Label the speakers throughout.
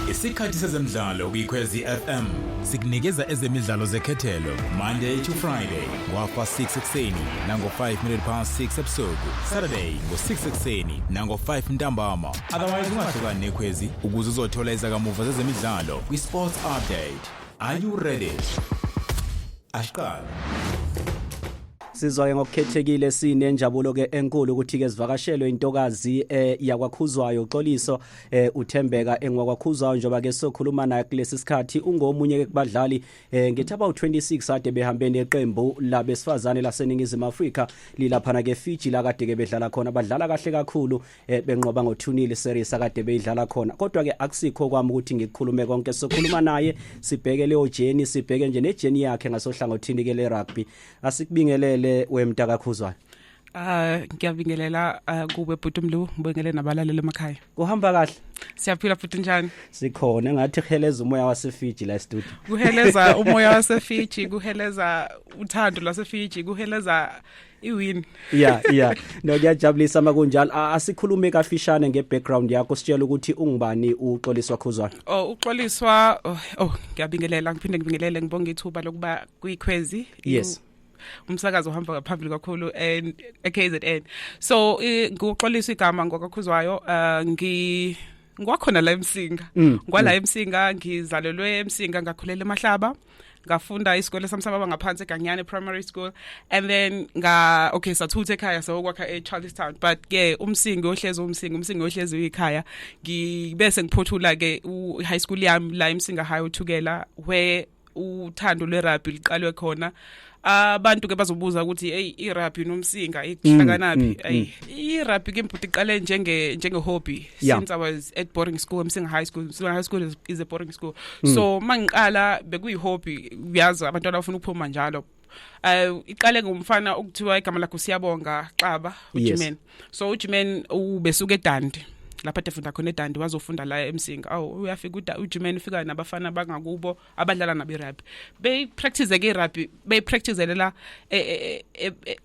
Speaker 1: Isikhathi sezemidlalo kwiKhwezi FM sikunikeza ezemidlalo zekhethelo Monday to Friday ngofa 6 ekseni nango 5 minute past 6 ebusuku Saturday ngo 6 ekseni nango 5 ntambama otherwise ungahlukani neKhwezi ukuze uzothola izakamuva zezemidlalo kwiSports Update Are you ready? Ashqala
Speaker 2: Sizwa-ke ngokukhethekile sinenjabulo-ke enkulu ukuthi-ke zivakashelwe intokazi eh, yakwakhuzwayo uxoliso eh, uthembeka engwakwakhuzwayo njengoba-ke sokhuluma naye kulesi sikhathi ungomunye-ke kubadlali eh, ngithi abawu-26 ade behambe neqembu labesifazane laseningizimu afrika lilaphana-ke fiji la kade-ke bedlala khona badlala kahle kakhulu eh, benqoba ngothunile series akade beyidlala khona kodwa-ke akusikho kwami ukuthi ngikukhulume konke sokhuluma naye sibheke leyo jeni sibheke nje nejeni yakhe ngasohlangothini-ke le-rugby asikubingelele wemntaka khuzwana Ah
Speaker 3: ngiyabingelela ah, kube bhuti Mlu ngibengele nabalaleli emakhaya. Kuhamba kahle.
Speaker 2: Siyaphila bhuti
Speaker 3: njani? Sikhona engathi
Speaker 2: kuheleza umoya waseFiji la studio. Kuheleza umoya
Speaker 3: waseFiji, kuheleza uthando lwaseFiji, kuheleza iwin yeah yeah
Speaker 2: no kuyajabulisa uma kunjalo asikhulume kafishane ngebackground yakho sitshela ukuthi ungubani uxoliswa khuzwana oh uxoliswa
Speaker 3: oh, oh ngiyabingelela ngiphinde ngibingelele ngibonga ithuba lokuba kuyikhwezi yes
Speaker 2: umsakazo
Speaker 3: uhamba ngaphambili kakhulu and KZN so ngikuxolisa igama ngokakhuzwayo uh, ngi ngwakhona la emsinga mm, ngwala mm. emsinga ngizalelwe emsinga ngakhulela emahlaba ngafunda isikole sami sababa ngaphansi eganyane primary school and then nga okay sathutha ekhaya sayokwakha echarlestown but ke umsingi ohlezi umsingi umsingi ohlezi uyikhaya ngibese ngiphothula ke i-high school yami la emsinga high uthukela where uthando lwerugby liqalwe khona abantu ke bazobuza ukuthi hey irugby nomsinga ikuhlakanaphi mm, mm, ay mm. irugby ke mbhuti iqale njenge njenge hobby yeah. since i was at boarding school msinga high school msinga high school is, is a boarding school mm. so mangiqala bekuyi hobby uyazi abantwana bafuna ukuphuma njalo um iqale ngomfana okuthiwa igama lakho siyabonga xaba ujimen so ujimen ubesuke edandi lapha ade funda khona edandi wazofunda la emsinga awu uyafika ujimen ufika nabafana abangakubo abadlala nabo irugby beyipractice ke irugby beyipracticele la e, e, e,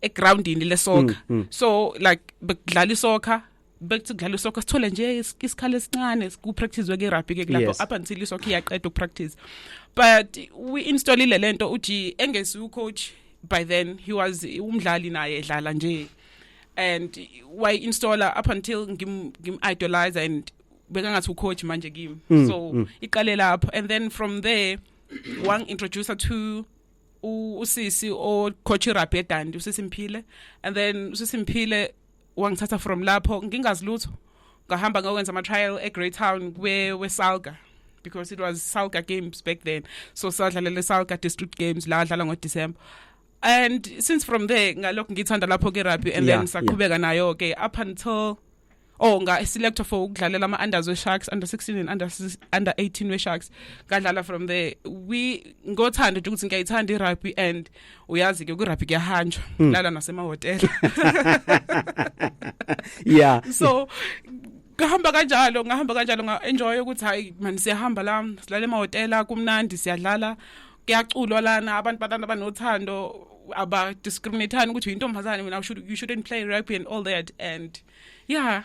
Speaker 3: egroundini lesoka mm, mm. so like bekudlala isoka bekuthi kudlala isoccer sithole nje isikhala esincane ku-practice-we ke-rugby ke kulapho yes. up until isoccer iyaqeda ukupractice but we-installile le nto uthi engezi ucoach by then he was umdlali naye edlala nje and wayi-installer up until ngim-idolize and bekangathi ucoach manje kimi mm, so mm. iqale lapho and then from there wangi-introducer to usisi ocoach irabhi edandi usisi mphile and then usisi mphile wangithatha from lapho ngingazi lutho ngahamba ngokwenza ama-trial egreytown wesalga because it was salga games back then so sadlalela salga district games la adlala ngodecember and since from there ngalokhu ngithanda lapho ke rugby and yeah, then saqhubeka yeah. nayo ke up until oh nga selector for ukudlalela ama unders we sharks under 16 and under under 18 we sharks ngadlala from there we ngothanda ukuthi ngiyayithanda irugby and uyazi ke kwirugby kuyahanjwa mm. lala nasemahotela yeah so ngahamba kanjalo ngahamba kanjalo nga enjoy ukuthi hayi mani siyahamba la silale emahotela kumnandi siyadlala kuyaculwa lana abantu batana banothando aba discriminateani ukuthi uyintombazane mina you shouldn't play rugby and all that and yeah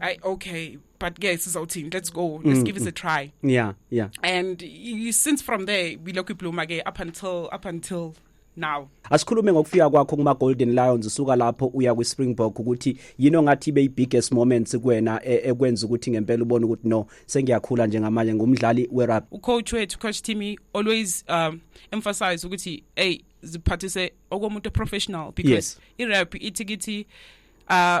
Speaker 3: I okay, but guys, it's our team. Let's go. Let's mm, give this a mm. try. Yeah, yeah. And you, since from there, we look blue again up until up until now asikhulume ngokufika
Speaker 2: kwakho kuma Golden Lions usuka lapho uya kwi Springbok ukuthi yini ongathi be biggest moments kuwena e, ekwenza ukuthi ngempela ubone ukuthi no sengiyakhula njengamanje ngumdlali we rugby u coach wethu coach Timmy
Speaker 3: always um emphasize ukuthi hey ziphathise okomuntu professional because yes. i rugby ithi kithi uh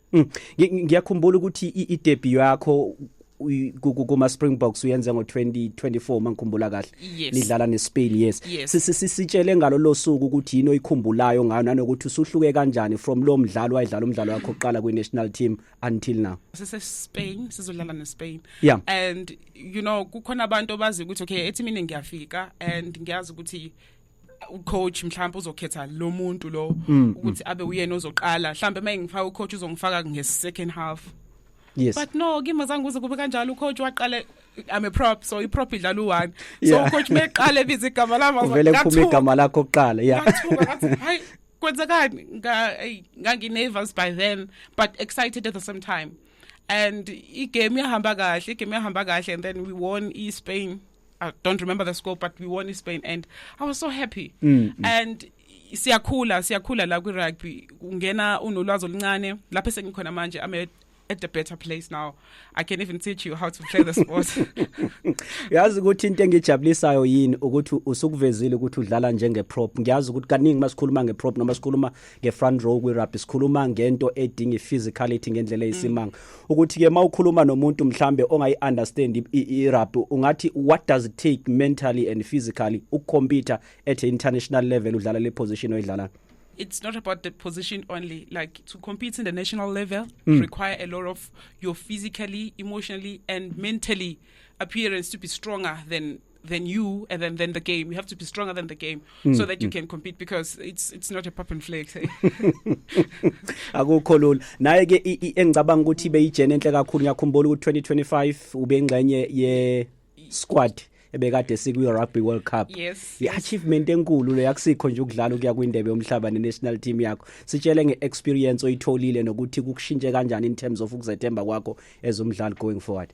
Speaker 2: Mm.
Speaker 3: Ngiyakhumbula
Speaker 2: ukuthi i-debut yakho kuma Springboks uyenze ngo 2024 mangikhumbula kahle yes. nidlala neSpain
Speaker 3: yes,
Speaker 2: yes. sisitshele
Speaker 3: ngalo
Speaker 2: losuku ukuthi yini oyikhumbulayo ngayo nanokuthi usuhluke kanjani from lo mdlalo wayidlala umdlalo wakhe oqala kwi national team until now sise Spain
Speaker 3: sizodlala neSpain yeah. and
Speaker 2: you know
Speaker 3: kukhona abantu abazi ukuthi okay ethi mina ngiyafika and ngiyazi ukuthi ucoach mhlawumbe uzokhetha lo muntu lo mm, mm. ukuthi abe uyena ozoqala mhlawumbe uma engifaka ucoach uzongifaka nge-second half yes but
Speaker 2: no kimi azange
Speaker 3: kuze kube kanjalo ucoach waqale I'm a prop so iprop idlala u1 so yeah. coach meqale ebiza igama lami uvele kuphume igama
Speaker 2: lakho kuqala yeah hayi
Speaker 3: kwenzekani ngangi nervous by then but excited at the same time and igame yahamba kahle igame yahamba kahle and then we won eSpain I don't remember the score but we won in Spain and I was so happy mm, mm. and siyakhula siyakhula la kwi rugby ungena unolwazi oluncane lapho sengikhona manje I'm a at a better place now i can even teach you how to play the sport
Speaker 2: yazi ukuthi into engijabulisayo yini ukuthi usukuvezile ukuthi udlala njenge prop ngiyazi ukuthi kaningi masikhuluma nge prop noma sikhuluma ngefront row kwirugby sikhuluma ngento edinga iphysicality ngendlela eyisimanga mm. ukuthi ke mawukhuluma nomuntu mhlambe ongayi understand irugby ungathi what does it take mentally and physically ukucompete at international level udlala le position oyidlala it's not about
Speaker 3: the position only. Like to compete in the national level mm. require a lot of your physically, emotionally, and mentally appearance to be stronger than than you and then, then the game. You have to be stronger than the game mm, so that you mm. can compete because it's it's not a pop and flex.
Speaker 2: Akukho lula. Naye ke engicabanga ukuthi beyijene enhle kakhulu ngiyakhumbula ukuthi 2025 ube ingxenye ye squad ebekade sikwi Rugby World Cup yes, i achievement
Speaker 3: enkulu
Speaker 2: le yakusikho nje ukudlala ukuya kwindebe yomhlaba ne national team yakho sitshele nge experience oyitholile nokuthi kukushintshe kanjani in terms of ukuzethemba kwakho as umdlali going forward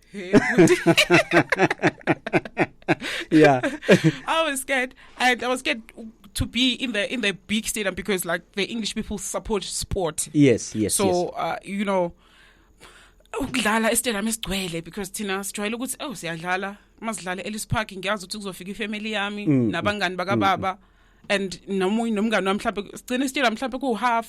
Speaker 2: Hey, yeah.
Speaker 3: I was scared. I, I was scared to be in the in the big stadium because like the English people support sport. Yes, yes. So yes. Uh,
Speaker 2: you
Speaker 3: know ukudlala estadium esigcwele because thina sijwayele ukuthi oh siyadlala masidlale Ellis Park ngiyazi ukuthi kuzofika ifamily yami mm, mm. nabangani bakababa mm, mm. and nomunye nomngane wami mhlawumbe sigcina istadium mhlawumbe ku half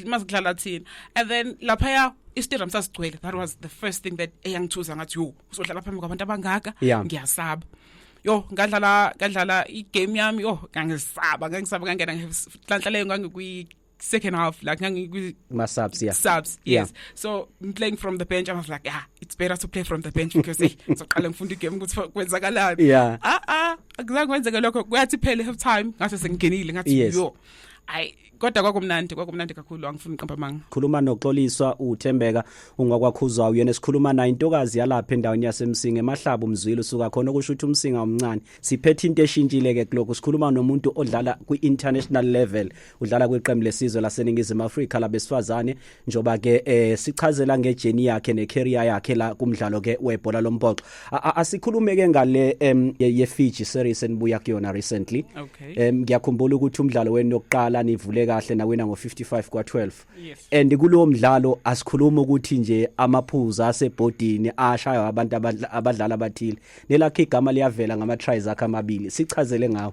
Speaker 3: masidlala thina and then laphaya istadium sasigcwele that was the first thing that eyangithuza ngathi yo uzodlala phambi kwabantu abangaka ngiyasaba yo ngadlala ngadlala igame yami yo ngangisaba ngangisaba ngangena ngihlanhlaleyo ngangikwi second half like my subs yeah subs yes
Speaker 2: yeah.
Speaker 3: so
Speaker 2: I'm playing
Speaker 3: from the bench i was like yeah it's better to play from the bench because hey soqala ngifunda igame ukuthi kwenzakalani yeah ah ah akuzange kwenzeke lokho kwathi phele half time ngase sengingenile ngathi yo i kodwa kwakumnandi kwakumnandi kakhulu angifuni uqamba amanga khuluma noxoliswa
Speaker 2: uthembeka ungwakwakhuzwa uyena esikhuluma naye intokazi yalapha endaweni yasemsinga emahlaba umzwile usuka khona okusho ukuthi umsinga omncane siphethe into eshintshile ke kuloko sikhuluma nomuntu odlala kwi-international level udlala kwiqembu lesizwe laseningizimu afrika labesifazane njoba ke eh sichazela ngejeni yakhe necareer yakhe la kumdlalo ke webhola lompoxo asikhulume ke ngale em ye Fiji series enibuya kuyona recently okay. em ngiyakhumbula
Speaker 3: ukuthi
Speaker 2: umdlalo wenu yokuqala nivule kahle nawina ngo 55 kwa 12 yes. and kulowo
Speaker 3: mdlalo
Speaker 2: asikhuluma ukuthi nje amaphuza asebhodini ashaywa abantu abadlala abathile nelakhe igama liyavela ngama tries akhe amabili sichazele ngawo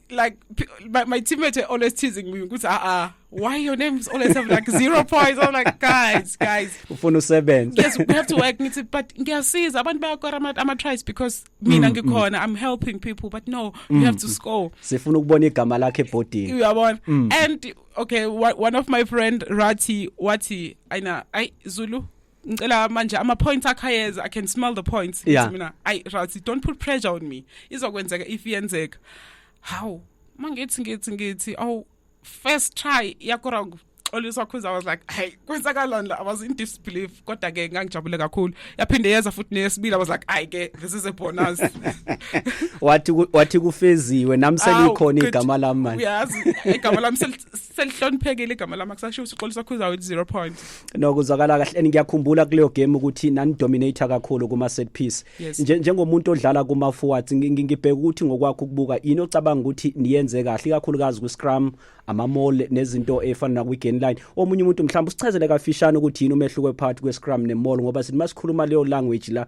Speaker 3: like my, my teammates are always teasing me because ah ah why your name is always have like zero points i'm like guys guys ufuna
Speaker 2: usebenze yes we have to work
Speaker 3: ngithi but ngiyasiza abantu bayakora ama ama tries because mina mm, ngikhona mm. i'm helping people but no mm, you have to mm. score sifuna ukubona igama
Speaker 2: lakhe ebhodini uyabona mm. and
Speaker 3: okay one of my friend Rati wathi ayina ay Zulu ngicela manje ama points akhayeza i can smell the points yeah. mina ay Razi don't put pressure on me izokwenzeka if yenzeka how mangithi ngithi ngithi oh first try yakho wrong always wakhuza was like hey kwenzakalani la i was in disbelief kodwa ke ngangijabule kakhulu yaphinde yeza futhi neyesibili i was like ay ke this is a bonus wathi
Speaker 2: wathi kufeziwe nami selikhona igama lami manje uyazi igama
Speaker 3: lami selihloniphekile igama lami akusashiwo sixolo sakhuza with 0 point no kuzwakala kahle
Speaker 2: ngiyakhumbula kuleyo game ukuthi nani dominator kakhulu kuma set piece yes. njengomuntu odlala kuma forwards ngibheka ukuthi ngokwakho ukubuka yini ocabanga ukuthi niyenze kahle kakhulukazi ku scrum ama mall nezinto efana na kwi gain line omunye umuntu mhlawumbe usichazele kafishane ukuthi yini umehluko phakathi kwe scrum ne mall ngoba sithi masikhuluma leyo language la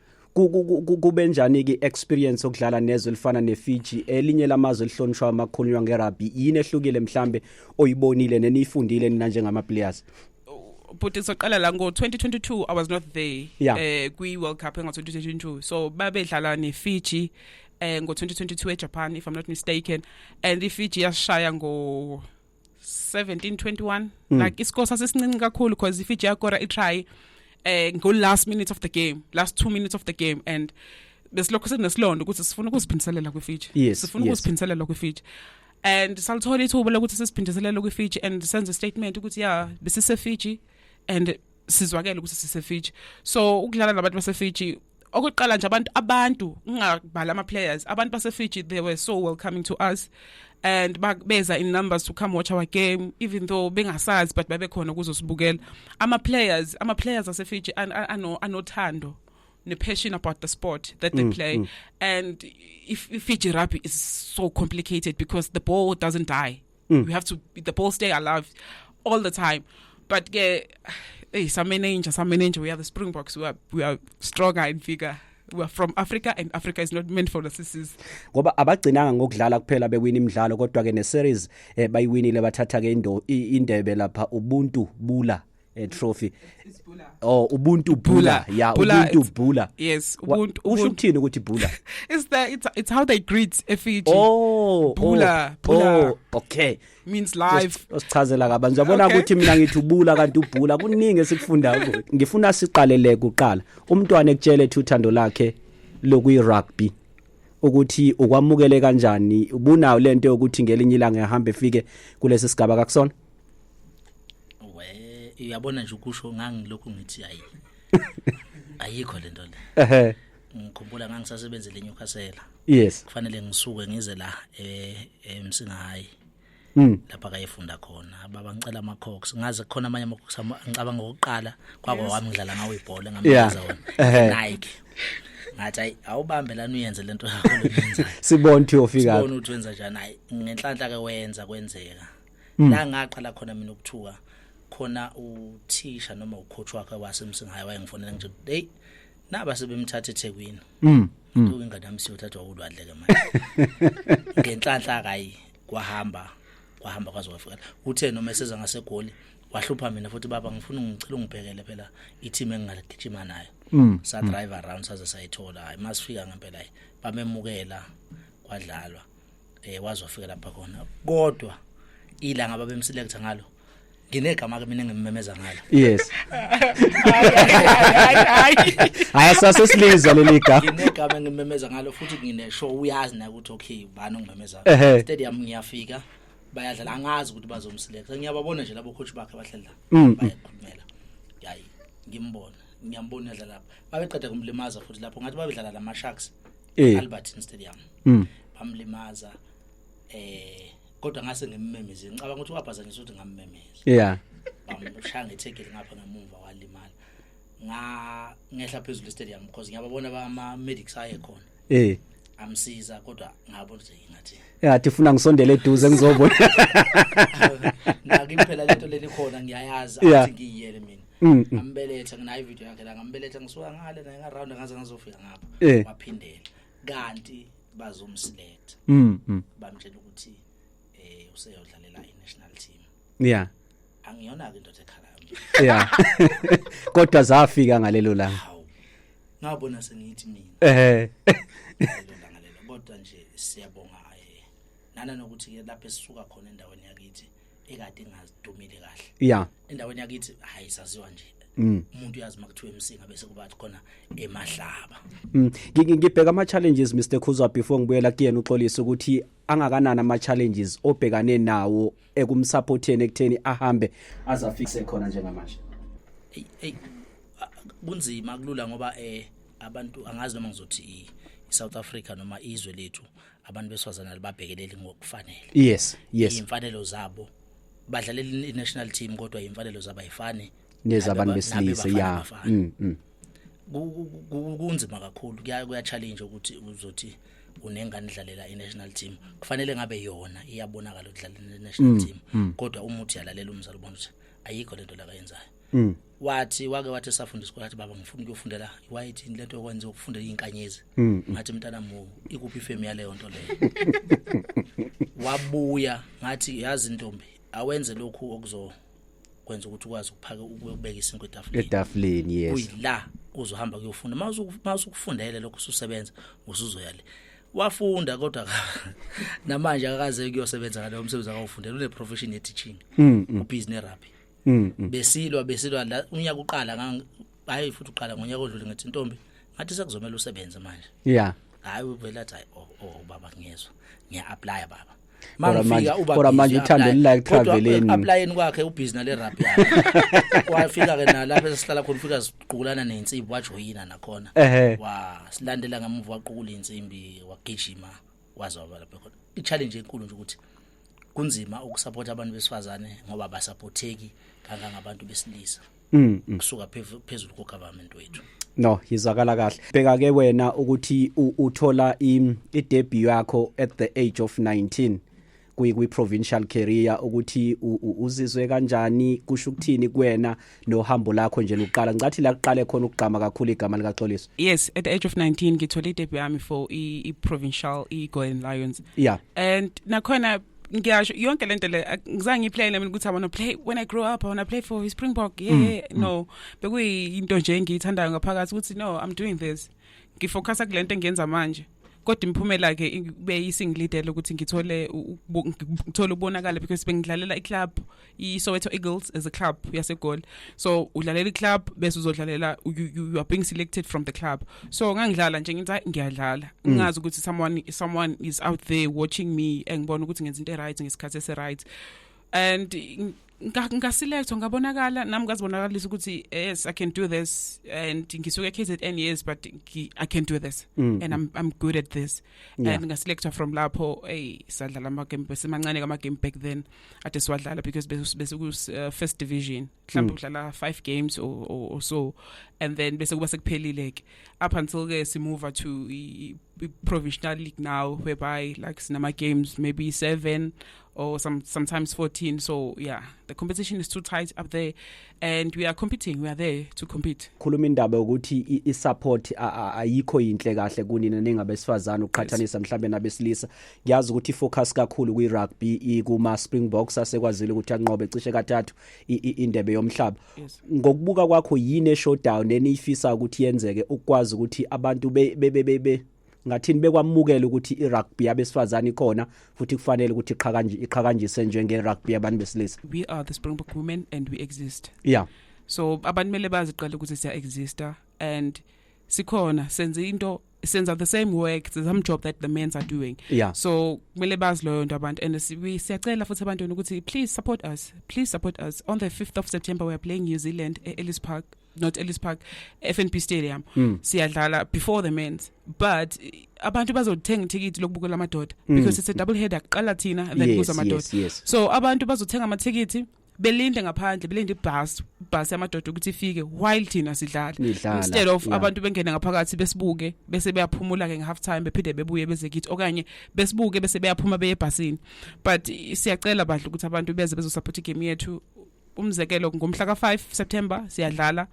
Speaker 2: kube njani ke experience okudlala nezwe elifana neFiji elinye lamazwe elihlonishwa amakhulunywa ngerugby yini ehlukile mhlambe oyibonile neniyifundile nina njengama players but
Speaker 3: soqala la ngo 2022 I was not there yeah. eh kwi World Cup ngo 2022 so babedlala ne Fiji eh ngo 2022 eJapan if I'm not mistaken and iFiji yashaya ngo 1721 mm. like isikole sasesincinci kakhulu because if ijagora itry eh ngo last minute of the game last 2 minutes of the game and besilokho sekunesilonda ukuthi sifuna ukuziphindiselela kwiFiji yes, sifuna yes. ukuziphindiselela kwiFiji and salithola ithuba lokuthi sisiphindiselele kwiFiji and senze statement ukuthi yeah besise Fiji and sizwakele ukuthi siseFiji so ukudlala nabantu baseFiji okokuqala nje abantu abantu ngingabhala ama players abantu base Fiji they were so welcoming to us and beza in numbers to come watch our game even though bengasazi but babe khona kuzosibukela ama players ama players ase Fiji ano anothando ne passion about the sport that they mm, play mm. and if, if Fiji rugby is so complicated because the ball doesn't die mm. you have to the ball stay alive all the time but ke hey samenenja samenenja we are the springboks we are, we are stronger in figure we are from Africa and Africa is not meant for the sissies ngoba abagcinanga
Speaker 2: ngokudlala kuphela bewina imidlalo kodwa ke ne series eh, bayiwinile bathatha ke indebe lapha ubuntu bula eh, trophy oh ubuntu bula ya ubuntu bula yes ubuntu
Speaker 3: usho ukuthini ukuthi bula
Speaker 2: it's the it's, it's
Speaker 3: how they greet efiji oh bula oh,
Speaker 2: bula oh, okay means live
Speaker 3: usichazela kabanzi yabona
Speaker 2: ukuthi okay. mina ngithi ubula kanti ubhula kuningi esikufunda ngifuna siqalele kuqala umntwana ekutshele ethi uthando lakhe lokuyi rugby ukuthi ukwamukele kanjani ubunayo lento yokuthi ngelinye ilanga ehamba efike kulesi sigaba kakusona we
Speaker 4: uyabona nje ukusho ngangilokhu ngithi hayi ayikho lento le ehe ngikhumbula ngangisasebenzele eNewcastle yes kufanele ngisuke ngize la eh emsinga hayi Mm. lapha kayefunda khona baba ngicela ama cox ngaze khona amanye ama cox ngicabanga ngokuqala kwakho wami ngidlala ngawo ibhola Yeah. ngambiza wona Ehhe. Nike ngathi ayi awubambe lana uyenze lento yakho lenzayo sibone ukuthi uyofika
Speaker 2: sibona ukuthi wenza njani hayi
Speaker 4: ngenhlanhla ke wenza kwenzeka mm. la ngaqala khona mina ukuthuka khona uthisha noma ucoach wakhe wasemsingayo wayengifonela nje hey naba sebemthatha eThekwini mm. mm. Kuke ingane yami siyothathwa ulwadle ke manje ngenhlanhla kayi kwahamba kwahamba kwaze kwafika uthe noma eseza ngasegoli wahlupha mina futhi baba ngifuna ngicela ungibhekele phela i-team engingaligijima nayo mm. sa drive around saze sayithola hayi masifika ngempela bamemukela kwadlalwa eh wazofika lapha khona kodwa ilanga ababemselecta ngalo nginegama ke mina ngimemeza ngalo yes
Speaker 2: hayi sase silizwa leli ga nginegama ngimemeza
Speaker 4: ngalo futhi nginesho uyazi na ukuthi okay ubani ongimemeza stadium ngiyafika bayadlala angazi ukuthi bazomselect ngiyababona nje labo coach bakhe bahlala mm. bayakhulumela yayi ngimbona ngiyambona edlala lapha babeqeda kumlimaza futhi lapho ngathi babedlala lama sharks Eh. Albert Stadium Mm. bamlimaza eh kodwa ngase ngimmemeze ngicabanga ukuthi wabhazanyiswa ukuthi ngammemeza Yeah. bamshaya ngethekile ngapha ngemumva walimala nga ngehla phezulu estadium because ngiyababona bama medics aye khona Eh. amsiza kodwa ngabona ukuthi ngathi Yeah, tifuna ngisondele
Speaker 2: eduze ngizobona. nakiphela
Speaker 4: lento lelikhona ngiyayazi Yeah. athi ngiyiyele mina Mm, mm. ambeletha nginayo video yakhe la ngambeletha ngisuka ngale naye ngaround ngaze ngazofika ngapha Eh. waphindela kanti bazomselect Mm. mm. bamtshela ukuthi eh useyodlalela i-national team Yeah. angiyona-ke indoda ekhalayo nje Yeah.
Speaker 2: Kodwa zafika ngalelo langa. hawu ngabona
Speaker 4: sengithi mina Eh. lelo langa lelo kodwa nje siyabonga eh nana nokuthi-ke lapho esisuka khona endaweni yakithi ekade ngazidumile kahle yeah endaweni yakithi hayi saziwa nje Mm. umuntu uyazi makuthiwa emsinga bese kubathi khona emahlaba mm.
Speaker 2: ngibheka ama challenges Mr Khuzwa before ngibuyela kuyena uxolisa ukuthi angakanani ama challenges obhekane nawo ekumsupporteni ekutheni ahambe azafikise khona njengamanje hey hey
Speaker 4: kunzima kulula ngoba eh abantu angazi noma ngizothi iSouth Africa noma izwe lethu abantu besifazane alibabhekeleli ngokufanele yes yes
Speaker 2: imfanelo zabo
Speaker 4: badlalela i-national team kodwa imfanelo zabo ayifani nezabantu
Speaker 2: besilisa ya mm, mm.
Speaker 4: kunzima kakhulu kuya challenge ukuthi uzothi unengane idlalela i-national team kufanele ngabe yona iyabonakala ukudlalela i-national mm, team kodwa uma uthi yalalela umzali ubona ukuthi ayikho lento lakayenzayo mm. wathi wake wathi safundiswa wathi baba ngifuna ukuyofundela iwayit into lento yokwenza ukufundela inkanyezi mm. ngathi mntana mo ikuphi ifemu yaleyo nto leyo wabuya ngathi yazi ntombi awenze lokhu okuzo kwenza ukuthi ukwazi ukuphaka ukubeka isinkwe etafuleni etafuleni yes
Speaker 2: uyila uzohamba
Speaker 4: kuyofunda mawusukufundele lokho ususebenza usuzoya le wafunda kodwa namanje akaze kuyosebenza ngalowo msebenzi akawufundela une profession ye teaching mm, mm. u business rugby Mm, mm. besilwa besilwa la unyaka uqala ngang hayi futhi uqala ngonyaka odlule ngithi ntombi ngathi sekuzomela usebenze manje yeah hayi uvela athi hayi oh, oh baba ngiyezwa ngiya apply baba Kodwa manje- Mangifika uba kodwa busy, manje uthando
Speaker 2: apply. lilike Kodwa traveleni. applyeni kwakhe ubhizi
Speaker 4: nale rap yakhe wafika ke nalapha esihlala khona ufika siqukulana nensimbi wajoyina nakhona Ehhe. wa silandela ngemuva waqukula insimbi wagijima wazobala lapha khona i challenge enkulu nje ukuthi kunzima ukusapota abantu besifazane ngoba basapotheki kangangabantu besilisa mm, mm. kusuka phezulu ko government wethu no yizwakala
Speaker 2: kahle bheka ke wena ukuthi uthola i-debut yakho at the age of 19 kwi provincial career ukuthi uzizwe kanjani kusho ukuthini kuwena nohambo lakho nje luqala ngicathi la kuqale khona ukugqama kakhulu igama lika Xoliso yes at the age of
Speaker 3: 19 ngithole idebut yami for i, i provincial i Golden Lions yeah and nakhona ngiyasho yonke lento le ngizange ngiplay nami ukuthi i want to play when i grow up i want to play for Springbok yeah mm, mm. no bekuyinto nje engiyithandayo ngaphakathi ukuthi no i'm doing this ngifocusa kulento engiyenza manje kodwa imiphumela ke ibe isingilidele ukuthi ngithole ngithole ubonakala because bengidlalela iclub iSoweto Eagles as a club yasegoli so udlalela iclub bese uzodlalela you are being selected from the club so ngangidlala nje ngithi ngiyadlala mm. ngazi ukuthi someone someone is out there watching me engibona ukuthi ngenza into right ngesikhathi esi right and ngasilethwa ngabonakala nami ngazibonakalisa ukuthi yes i can do this and ngisuke KZN yes but i can do this mm. and i'm i'm good at this yeah. and ngasilethwa from lapho hey sadlala ama game bese mancane kama game back then ade siwadlala because bese bese ku uh, first division mhlawumbe mm. udlala 5 games or, or, or so and then bese kuba sekuphelile ke up until ke si move to provincial league now whereby like sinama games maybe 7 or some sometimes 14 so yeah the competition is too tight up there and we are competing we are there to compete khuluma indaba ukuthi
Speaker 2: i support ayikho yinhle kahle kunina ningabesifazana uqhathanisa mhlambe nabesilisa ngiyazi ukuthi focus kakhulu kwi rugby ikuma Springboks asekwazile ukuthi anqobe cishe kathathu indebe yomhlaba ngokubuka kwakho yini e showdown eniyifisa ukuthi yenzeke ukwazi ukuthi abantu be ngathini bekwamukela ukuthi irugby yabesifazane ikhona futhi kufanele ukuthi iqhakanje iqhakanjise njenge rugby yabantu besilisa we are the springbok
Speaker 3: women and we exist yeah so
Speaker 2: abantu mele baziqale
Speaker 3: ukuthi siya exista and sikhona senze into senza the same work it's the same job that the men's are doing yeah. so kumele bazi loyo nto abantu and siyacela futhi abantwini ukuthi please support us please support us on the 5th of september we are playing new zealand e-ellis park not Ellis Park FNB Stadium mm. siyadlala before the men's but abantu bazothenga ithikithi lokubukela amadoda mm. because it's a double header kuqala thina then yes, kuza amadoda yes, yes. so abantu bazothenga amathikithi belinde ngaphandle belinde ibus bus yamadoda ukuthi ifike while thina sidlala instead of yeah.
Speaker 2: abantu bengena
Speaker 3: ngaphakathi besibuke bese beyaphumula ke ngehalf time bephinde bebuye beze kithi okanye besibuke bese beyaphuma beye ebhasini but siyacela badla ukuthi abantu beze bezosupport igame yethu umzekelo ngomhla ka-5 september siyadlala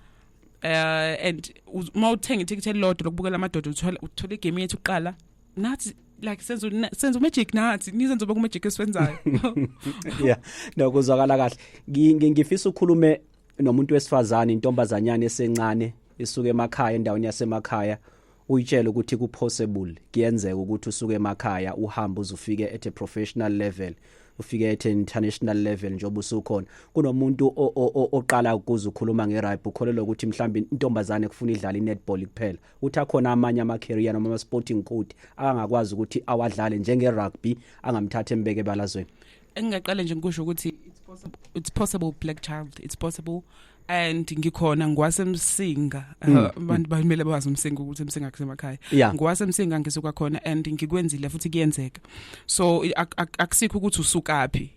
Speaker 3: uh, and uma uthenga ithikithi elilodwa lokubukela amadoda uthole igame yethu kuqala nathi like senza senza magic nathi nizenza uba magic esiwenzayo yeah
Speaker 2: no kuzwakala kahle ngifisa ukhulume nomuntu wesifazane intombazanyana esencane isuke emakhaya endaweni yasemakhaya uyitshele ukuthi ku possible kuyenzeka ukuthi usuke emakhaya uhamba uzufike at a professional level ufike at international level njengoba usukhona kunomuntu oqala ukuze ukhuluma ngerugby ukholelwa ukuthi mhlawumbe intombazane kufuna idlala inetball kuphela uthi akhona amanye ama career noma ama sporting code akangakwazi ukuthi awadlale njenge rugby angamthatha embeke balazweni engingaqale nje
Speaker 3: ngikusho ukuthi it's possible, it's possible black child it's possible and ngikhona ngwasemsinga uh, mm. abantu bamele bazi umsinga ukuthi umsinga kusemakhaya ngwasemsinga ngisuka khona and ngikwenzile futhi kuyenzeka so akusikho ukuthi usukaphi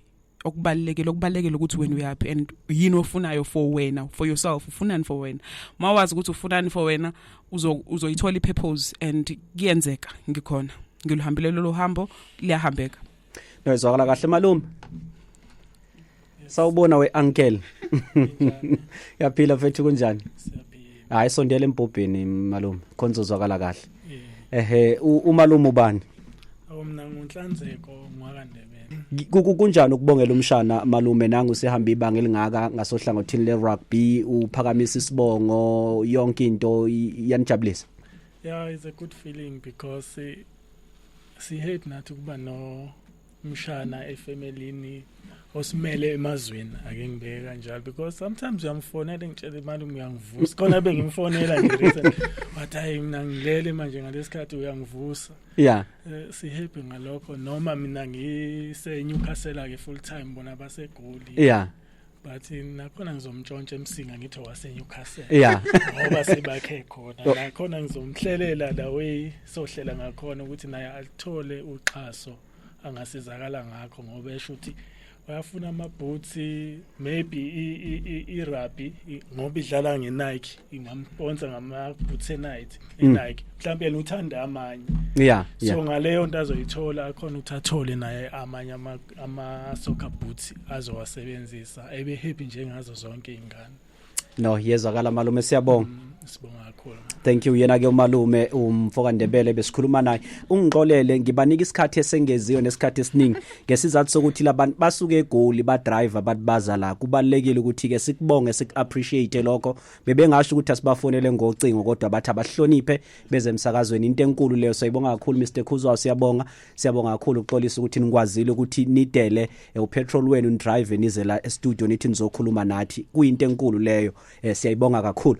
Speaker 3: okubalekile okubalekile ukuthi wena uyapi and yini ofunayo for wena for yourself ufunani for wena mawazi ukuthi ufunani for wena uzoyithola ipurpose and kuyenzeka ngikhona ngilihambile lolu hambo liyahambeka no izwakala
Speaker 2: kahle malume sawubona we uncle yaphila mfethu kunjani hayi sondela embhobheni malume khonzo zwakala kahle ehe umalume ubani awumna
Speaker 5: ngunhlanzeko ngwakandebele kunjani ukubongela
Speaker 2: umshana malume nangu sihamba ibanga elingaka ngasohlangothini le rugby uphakamisa isibongo yonke into yanijabulisa yeah it's
Speaker 5: a good feeling because eh, sihate nathi kuba no mshana efemelini osimele emazweni ake ngibeke kanjalo because sometimes uyamfonela ngitshela imali uyangivusa khona bengimfonela nje recent wathi hayi mina ngilele manje ngalesikhathi uyangivusa yeah
Speaker 2: eh, si happy
Speaker 5: ngalokho noma mina ngise Newcastle ke full time bona basegoli yeah
Speaker 2: but
Speaker 5: nakhona ngizomntshontsha emsinga ngithi waseNewcastle yeah ngoba
Speaker 2: sibakhe
Speaker 5: khona oh. nakhona ngizomhlelela la way sohlela ngakhona ukuthi naye alithole uxhaso angasizakala ngakho ngoba esho ukuthi bayafuna amabhutsi maybe i-rugby ngoba idlala nge-nike ingamponsa ngamabhutsi e-nike mm. e-nike mhlawumbe yena uthanda amanye yeah so
Speaker 2: ngaleyo nto
Speaker 5: azoyithola akhona ukuthi athole naye amanye ama soccer boots azowasebenzisa ebe happy njengazo zonke ingane no yezwakala
Speaker 2: malume siyabonga mm. sibonga kakhulu
Speaker 5: thank you yena ke
Speaker 2: umalume umfoka Ndebele besikhuluma naye ungixolele ngibanika isikhathi esengeziwe nesikhathi esiningi ngesizathu sokuthi labantu basuke egoli ba driver bathi baza la kubalekile ukuthi ke sikubonge sik appreciate lokho bebengasho ukuthi asibafonele ngocingo kodwa bathi abahloniphe bezemsakazweni into enkulu leyo siyibonga kakhulu Mr Khuzwa siyabonga siyabonga kakhulu ukuxolisa ukuthi nikwazile ukuthi nidele eh, upetrol wenu nidrive nize la estudio nithi nizokhuluma nathi kuyinto enkulu leyo eh, siyayibonga kakhulu